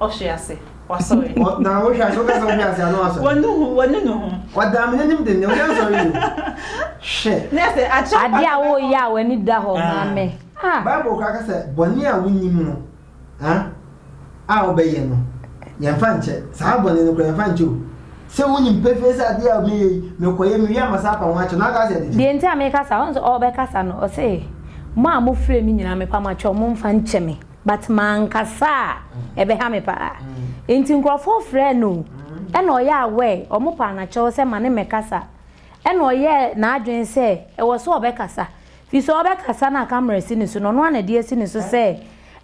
Ɔhwe ase, wasɔre. Ɔ, na wohwe ase, woka sɛ ɔhwe ase a na wasɔre. Wɔnu ho, wɔnu ne ho. Ɔdaa me n'anim dennen, ɔsan sɔre bio. Hwɛ. Na ɛsɛ akyɛ. Adeɛ a woreyɛ a w'ani da hɔ ma me. Ah. Bible koraa ka sɛ bɔne a wonnim no, ah, a wobɛyɛ no, yɛmfa nkyɛ. Saa bɔne no koraa, yɛmfa nkyɛ o. Sɛ wonim pefee sɛ adeɛ a meyɛ yi, mekɔyɛ, mewie a, masan apa ho akyɛ no, na wokaa sɛ yɛde kyɛ. Deɛ nti a mekasa, wohu sɛ ɔrebɛkasa no, ɔse, Mo a mofrɛ me nyinaa, mepa mo akyɛw, momfa nkyɛ me. but mankasa a ɛbɛha me paa nti nkurɔfoɔ frɛɛ no ɛna ɔyɛ aware wɔn paa no akyɛw sɛ ma ne mmɛkasa ɛna ɔyɛɛ n'adwene sɛ ɛwɔ so ɔbɛkasa fi sɛ ɔbɛkasa no a camera si ne so na ɔno ana de asi ne so sɛ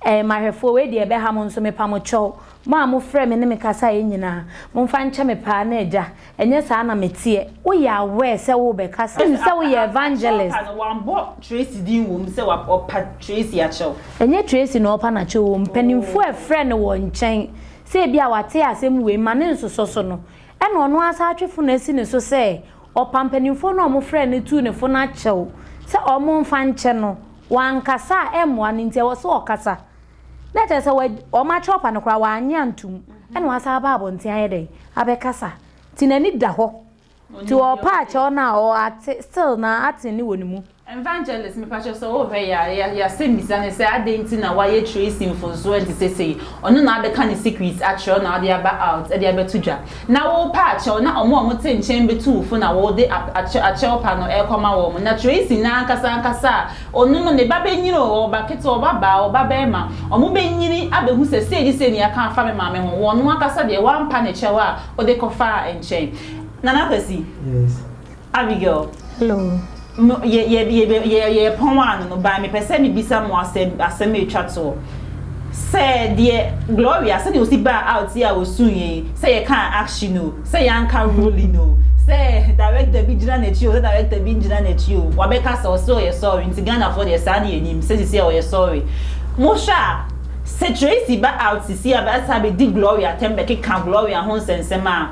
ɛɛ mahwɛfoɔ wei deɛ ɛbɛha mo nso mepa mo kyɛw mo a mo frɛ me ne me kasaeɛ nyinaa momfa nkyɛ me paa na agya Ɛnyɛ saa na meteɛ. Woyɛ aware sɛ worebɛkasa? Ɛsɛ sɛ woyɛ evangelist. Kyɛw pa no, wɔabɔ Tracy din wom sɛ ɔpa Tracy akyɛw. Ɛnyɛ Tracy na ɔrepa no akyɛw o. Mpanimfoɔ a ɛfrɛɛ no wɔn nkyɛn sɛ ebia wɔate asɛm wei ma ne nsosɔ so no, ɛna ɔno ara san atwe fon asi ne so sɛ ɔpa mpanimfoɔ no a wɔfrɛɛ no tuu ne fo no akyɛw sɛ wɔmfa nkyɛ no. Wankasa a ɛmmoa no nti, ɛwɔ sɛ ɔkasa. na kyerɛ sɛ wɔakyerɛ ɔfa no koraa wannye antom ɛna wasan aba abɔnten ayɛ dɛn abɛkasa nti n'ani da hɔ nti ɔpa akyɛw no a ɔate still na ate ne wɔ ne mu. Evangelist mepakyɛw sɛ wohwɛ yɛ a yɛasɛm bisa ne sɛ adɛn nti na wayɛ Tracy mfomsoɔ nti sesei ɔno na abɛka ne secret akyerɛw na ɔde aba out de abɛto dwa Na worepɛ akyɛw na wɔn a wɔte nkyɛn betu wo fo na wode ap, akyɛ, akyɛw pa no rekɔma wɔn. Na Tracy no ankasa ankasa a ɔno no ne ba benyini o, ɔba ketewa, ɔba baa, ɔba barima, wɔbenyini abehu sɛ sei ne sei nea aka afa me maame ho. Ɔno ankasa deɛ, wampa ne kyɛw a wode kɔfaa nkyɛn. Nana Kwasi. Yes. Abigail, Hello. No, yɛ, yɛ, yɛ, yɛ, yɛ, yɛ pɔn ano no, by mepɛ sɛ mebisa mo asɛm, asɛm ɛtwa toɔ. Sɛ deɛ Gloria, sɛdeɛ ɔsi baa out yi a ɔsuu yɛn, sɛ yɛkaa action o, sɛ yɛanka rolling o, sɛ director bi gyina n'akyi o, sɛ director bi ngyina n'akyi o, wabɛka sɛ ɔse ɔyɛ sorry, nti Ghanafoɔ deɛ saa ne yɛnim, sɛ sisi a ɔyɛ sorry. Mohwɛ a, sɛ Tracy ba out sisi a bɛataa bɛdi Gloria atɛm bɛkeka Gloria ho nsɛnsɛm a,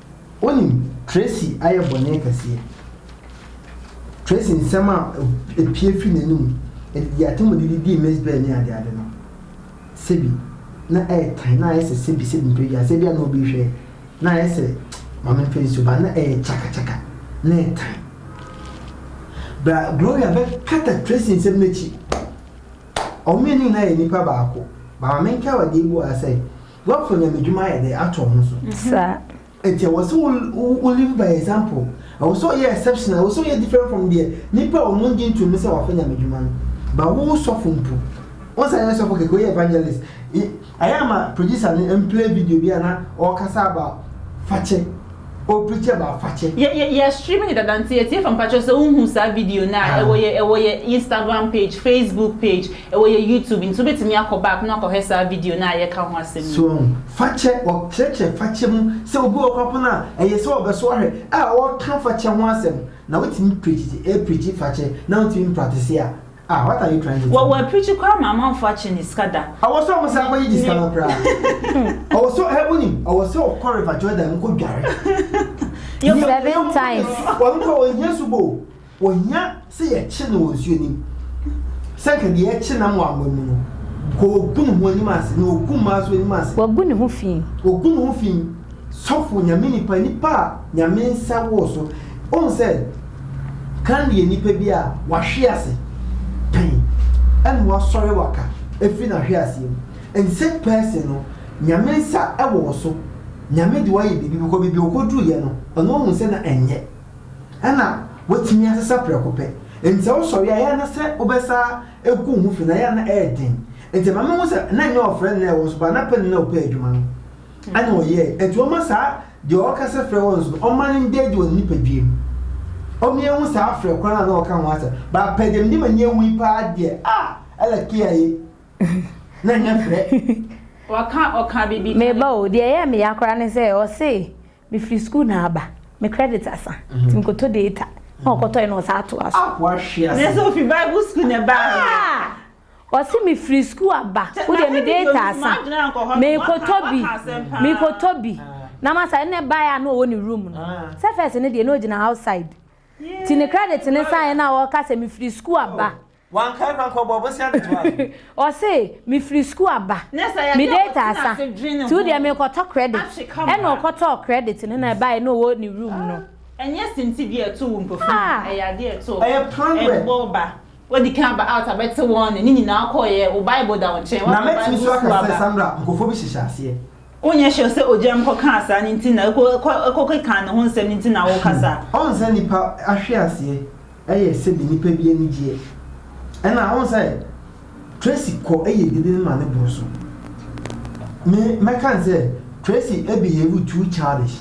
Wonim Tracy ayɛ bɔne kɛseɛ. Tracy nsɛm a ɛpue firi n'anom de atemmude de dii Miss Byrne ne adeade no, sɛbi na ɛyɛ tan, na ayɛ sɛ sɛbi sɛbi mprɛ biara, sɛ ebia na obi rehwɛ, na ayɛ sɛ, ma memfa nsuo ba, na ɛyɛ kyaka kyaka, na ɛtan. Bra Gloria bɛkata Tracy nsɛm no akyi. Wɔn mmienu nyinaa yɛ nnipa baako. Ba ma menkae wo adeɛ bi wɔ ha sɛ, Wɔafa nyamedwuma ayɛ dɛ ato ɔmo so. Saa. Enti ɛwɔ sɛ wo wo live by example. Ɛwɔ sɛ ɔyɛ exceptional, ɛwɔ sɛ ɔyɛ different from deɛ nnipa a ɔmo ngye ntomu sɛ wɔafa nyamedwuma no. But wo wo sɔfo mpo, wonsan nyɛ sɔfo kɛkɛ, woyɛ evangelist. Ayɛ ama producer no mplay video bi a na ɔɔkasa about fakyɛ. o preacher ba afakyɛ. Yɛ yɛ yɛ stream ne dada nti yɛtie fa mpakyɛw sɛ wo hu saa video no a ɛwɔ yɛ ɛwɔ yɛ instagram page facebook page ɛwɔ yɛ youtube nti wobɛtumi akɔ back na wakɔhwɛ saa video no a yɛka ho asɛm yi. So wahu fakyɛ wɔkyerɛkyerɛ fakyɛ mu sɛ obi wɔ kora po no a ɛyɛ sɛ ɔbɛso ahwɛ a ɔreka fakyɛ ho asɛm na wotumi preachi ɛɛ preachi fakyɛ na wotumi mpraktise a Ah, what are you trying to tell me? Wɔwɔ apirikyi koraa ma amanfoɔ akye ne sika da. Ɔwɔ sɛ wɔn san kɔ yi gye sika no koraa. Ɔwɔ sɛ ɛhɛ wuni, ɔwɔ sɛ ɔkɔ River Jordan nkɔ dware. Seven times. Wɔn kɔ wɔn hia subo, wɔn hia sɛ yɛkye no wɔ nsuo nim. Sɛ nka deɛ yɛkye nam wɔ anwa mu no, nka ogu ne ho anim ase na ogu mmaa so anim ase. Wagu ne ho fi. Wagu ne ho fi. Sɔfo, Nyame nipa, nipa a Nyame nsa wɔ so. Wohu sɛ kan yɛ nipa bi a wahwe ase pɛn ɛna wasɔre waka ɛfiri nahwe aseɛ mu. In such person no, Nyame nsa wɔ wo so. Nyame de wo ayɛ biribi because baabi a ɔkɔduruiɛ no, ɔno ahu sɛ na ɛnyɛ. Ɛna watumi asesa prɛko pɛ. Nti sɛ wosɔre a, ɛyɛ a na sɛ wobɛsa ɛgu wo ho fi no, ɛyɛ a na ɛyɛ den. Nti ɛma mehu sɛ na nyɛ ɔfrɛ no na ɛwɔ so but na pɛ no na ɔpɛ adwuma no. Ɛna ɔyɛe. Enti ɔmma saa deɛ ɔreka sɛ frɛ wɔn so no, ɔmma no nda adi wɔ ne nipadua mu. Ɔmmea hu saa frɛ korɔ no a na ɔreka ho asɛm. Bɛapɛ deɛ mede m'ani ahu yi paa deɛ, ah! Ella Kea ye, na ɛnyɛ frɛ. Wɔka ɔka biribi ka. Meba o, deɛ ɛyɛɛ me ya koraa ne sɛ ɔse mefiri sukuu na aba, me credit asa, nti mekɔtɔ data, na ɔkɔtɔe na ɔsan toa so. Akoa hwe ase. Nanso ofi Bible sukuu na ɛbaeɛ. Ah! Ɔse me firi school aba wo deɛ me data asa me kɔ tɔ bi me kɔ tɔ bi na ma sa ɛnɛ bae a na ɔwɔ ne room no sɛ first no deɛ na ɔgyina outside ti ne credit no saeɛ na ɔka sɛ me firi school aba Ɔse me firi school aba me data asa ti wo deɛ me kɔ tɔ credit ɛna ɔkɔ tɔɔ credit no na ɛbae na ɔwɔ ne room no. Ɛnyɛ senti bi a ɛto wo mpofirim, ɛyɛ adeɛ a ɛto ɛbɔ ba. Wadi kan aba out abɛte wɔn nne, ne nyinaa kɔeɛ, wo Bible da wo nkyɛn, Na woaka mɛtumi Bible nso aka sukuu sɛ aba. Sandra nkurɔfoɔ bi hyehyɛ aseɛ. Wonyɛ sure sɛ ogya mu kɔkaa saa no nti na ɛkɔ ɛkɔ ɛkɔkekaa ne ho nsɛm no nti na wokasa. Ɔhu sɛ nnipa ahweaseɛ yɛ sɛbi nnipa bi anigyeɛ ɛna wohu sɛ Tracy kɔ yɛ dede no ma ne boro so me mɛka ne sɛ Tracy behave too childish.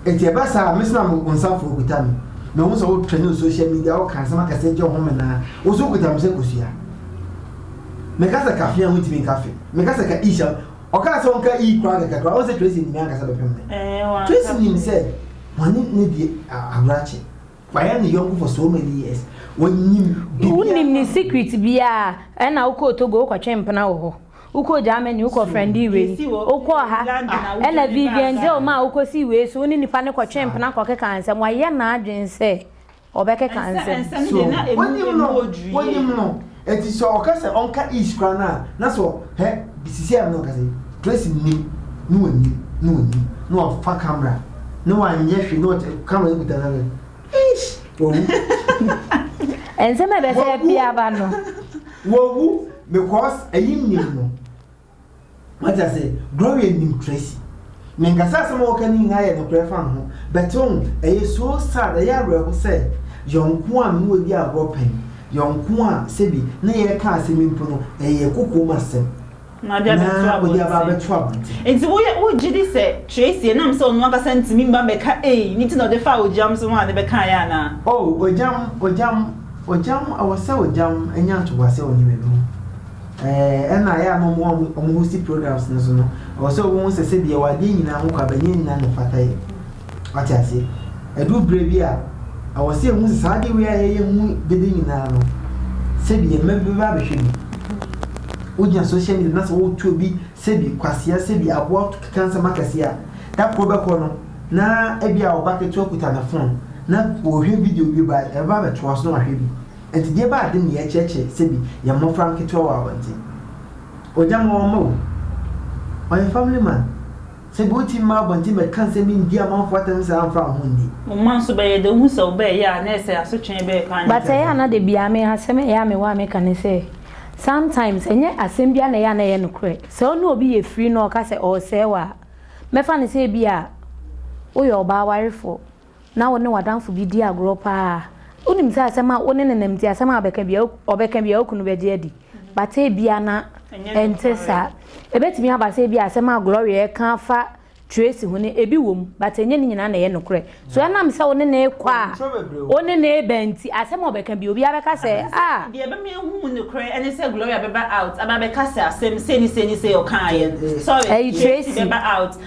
Enti ɛba saa a, mesoma mo nsa frɛ okuta me. Mehu sɛ wotwɛn no social media, woka nsɛm akɛse gye wo home naa, wo nso wokuta me sɛ kosua. Meka sɛ ka fee a wontumi nka fee. Meka sɛ ka ish a ɔkaa sɛ ɔnka ii koraa kɛkɛ koraa, ɔn sɛ Tracy nim me ankasa bɛpem me. Tracy nim sɛ wɔne ne di agorakye. Wayɛ ne yɔnko for so many years. Ɔnnim biribiara. Wonnim ne secret biara. Ɛna wokɔɔ Togo wokɔtwee mpena wɔ hɔ. Wokɔɔ Germany, wokɔfrɛndee wei, wokɔɔ ha, ɛna Vivian Geo maa wokɔsii wei so, wo ne nipa no kɔtwee mpena kɔkekaa nsɛm. Wayɛ n'adwene sɛ ɔbɛkeka nsɛm. So wonim no? Wonim no? Enti sɛ ɔka sɛ ɔnka Ish koraa no a, na sɛ ɔ, hɛ, sisiaa mu na ɔka sɛ, Tracy nnim, na ɔnnim, na ɔnnim, na ɔfa camera, na wanyɛ hwee, na ɔte, camera no kuta no, na. Eish! Wawu. Nsɛm a ɛbɛsɛ bi aba no. Wawu because ɛyi nnim no. Wate ase? Gloria nnim Tracy. Menka sɛ asɛm a wɔka no nyinaa yɛ nokorɛ fa ne ho, but wohu, ɛyɛ so sad, ɛyɛ awerɛho sɛ yɔnko a me ne wadi agorɔ pɛn, yɔnko a sɛbi na yɛka asɛm yi mpo no, ɛyɛ kokoam asɛm. Na ɔde aba abɛto abɔnten. Na ɔde aba abɛto abɔnten. Enti woyɛ, wogye di sɛ Tracy, ɛnam sɛ ɔno ankasa ntumi mma mmɛka ei no nti na ɔde faa Ogyam so ho a ne bɛkaeɛ anaa? Oh, Ogyam, Ogyam, Ogyam, ɛwɔ sɛ Ogyam nya ntoboaseɛ wɔ nneɛma bi ho. Ɛɛ, ɛna ɛyɛ a na wɔn a wɔhosti programs no so no, ɛwɔ sɛ wɔhu sɛ sɛdeɛ yɛwɔ adeɛ nyinaa ho kwa, bɛnyɛ nyinaa na ɛfata yɛn. Wate aseɛ? Ɛduru berɛ bi a, ɛwɔ sɛ yɛhu sɛ saa adeɛ wei a yɛyɛ mu dede nyinaa no, sɛbi yɛn mma bi bɛba abɛhwɛ bi. Wogyina social media na sɛ woretu obi sɛbi kwasea, sɛbi aboa keka nsɛm akɛseɛ a, da koro bɛkɔ no, na ebi a ɔba ketewa kuta ne phone na ɔrehwɛ video bi ba, ɛbɛba abɛtoa so na wahwɛ bi. Nti deɛ ɛbaa den no, yɛrekyerɛkyerɛ sɛbi yɛn mmɔfra nketewa wɔ abɔnten. Ogya ma wɔmma o. Ɔyɛ family man. Sɛ bi wotumi ma abɔnten bɛka nsɛm yi ndi amanfoɔ atɛm saa a mfa wo ho nni. Wo mma nso bɛyɛ dɛ wohu sɛ wobɛɛyɛ a na ɛsɛ asotwe ɛbɛyɛ paa nyɛ But ɛyɛ a na da biaa me asɛm a ɛyɛ a mewɔ a meka ne sɛ sometimes ɛnyɛ asɛm biaa na ɛyɛ a na ɛyɛ nokorɛ. Sɛ wo ne obi yɛ firi na ɔka sɛ ɔresɛe wo a mɛfa no sɛ ebia woyɛ ɔbaa warefoɔ. na wo ne w'adamfo bi di agorɔ paa a, wonim sɛ asɛm a wo ne no nam nti asɛm a ɔbɛka bia ɔbɛka bia okunu bɛgye adi but ebia na ɛnte saa ebetumi aba sɛ ebia asɛm a Gloria ɛka afa Tracy ho no ebi wɔ mu but ɛnyɛ ne nyinaa na ɛyɛ nokorɛ so ɛnam sɛ wo ne no rekɔ a wo ne no reba nti asɛm a ɔbɛka bia obiara bɛka sɛ ah. Deɛ ɛbɛma yɛahu mu nokorɛ ɛne sɛ Gloria bɛba out aba abɛka sɛ asɛm sei ne sei ne sei ɔkaeɛ no sorry Tracy bɛba out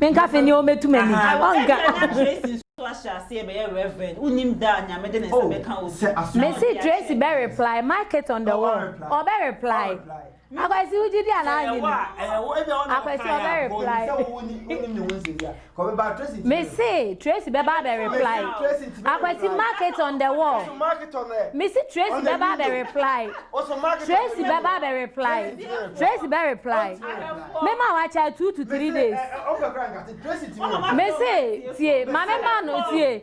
Menkafe nea ɔmmɛtu m'ani. Mese Tracy bɛ reply, mark it on the wall. Ɔbɛ reply. Akwasi wogye di anaa wogye di? Akwasi ɔbɛ reply. Mese Tracy bɛba abɛ reply. Akwati mark it on the wall. Mese Tracy bɛba abɛ reply. Tracy bɛba abɛ reply. Tracy bɛ reply. Mema wakyɛ two to three days. Mese tie ma mema no tie.